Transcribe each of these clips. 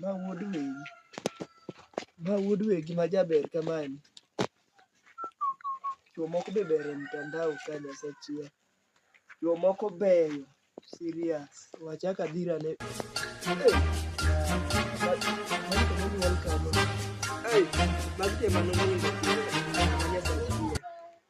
Ma wuod wegi, ma wuod wegi ma jaber kamani. Chwo moko be ber e mtandao ka Nyasachiel. Chwo moko beyo serious. We achak adhir ane. Hey, magi joma nonindo.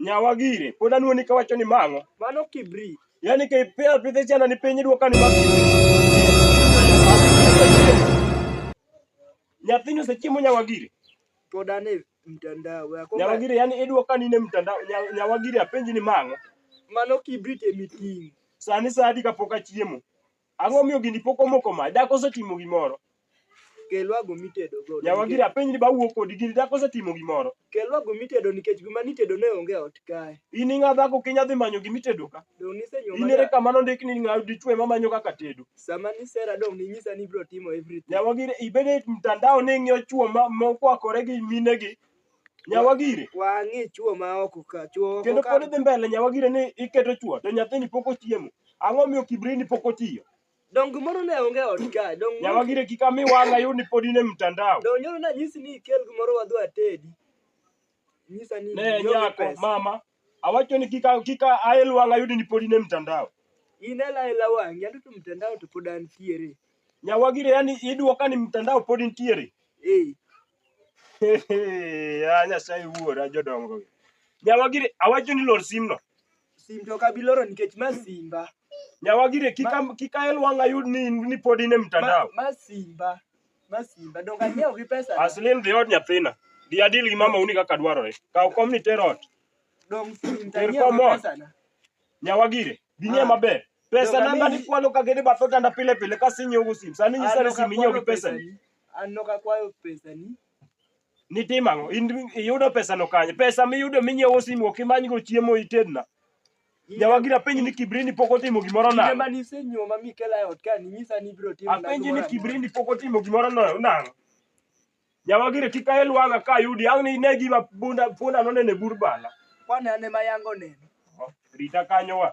Nyawa gire, pod anuoni ka wacho ni mang'o? Mano kibri. Yaani ka ipea pidhe chana ni piny idwoka ni mang'o. Nyathini osechiemo nyawa gire. Pod ane mtandao yako. Nyawa gire, yaani idwoka ni ne mtandao. Nya- Nyawa gire apenji ni mang'o? Mano kibri temiting. Sani saa adi kapok achiemo? Ang'o miyo gini pok omoko mach? Dhako osetimo gimoro. Kelwa go mitedo go. Yawa gira penj ni bawuo kodi gini dhako osetimo gimoro. Kelwa go mitedo nikech gima nitedo ne onge ot kae. In ing'a dhako kinya dhi manyo gima itedo ka. Dong' nisenyo In ere kama nondik ni ng'a dichwe ma manyo kaka tedo. Sama nisera dong' ninyisa ni ibiro timo everything. Yawa gira ibede mtandao ni ing'iyo chwo ma mokwakore gi minegi Nyawagire. Wang'e chuo ma oko ka chuo oko Kendo ka. pod idhi mbele nyawagire ni iketo chuo to nyathini pok ochiemo. Ang'o miyo kibrini pok otiyo? Dong gimoro ne onge e ot ka. Dong Nyawagire kik ami wang'a yud ni pod in e mtandao. dong nyoro na nyisi ni ikel gimoro wadhi watedi. Nyisa ni Ne ionge nyako pesa. mama awacho ni kika kika ael wang'a yud ni pod in e mtandao. In ela ela wang'i anto to mtandao to pod antiere. Nyawagire yani iduoka ni mtandao pod intiere. Eh. Ah, Nyasaye wuora jodongo. Nyawagire awacho ni lor simno. Sim to kabi loro nikech ma simba. Nyawagire kika kika el wanga yud ni ni pod in e Ma, mtandao. ma simba. Ma simba. Donge anyiewo gi pesa. na. Aslim dhi od nyathina. Dhi adil gi mama uni kaka dwarore. Kaw kom ni ter ot. Donge sim to Ter anyiewo gi komot. pesa. na. Nyawagire binie Ah. maber. Pesa Donge namba ami- ni kwalo ka gede batho tanda pile pile ka sinyo ugu sim. Sani nyisa Ah, ni donge sim inyo gi akwalo pesa ni. pesani. An nok akwayo pesani. Nitimo ang'o? In iyudo pesano kanye? Pesa miyudo minyiewo simu ok imanygo chiemo itedna. Nyawagi napenji ni Kibrini pok otimo gimoro Kinde nang'o? mane isenyuoma mikela e ot ka ninyisa ni ibiro timo Apenji ni Kibrini pok otimo gimoro no- nang'o? Nyawagire kik ael wang'a ka ayudi ang' ni ine gima bunda punda nonene bur bala. Kwane ane ma yango neno. Rita kanyo wa.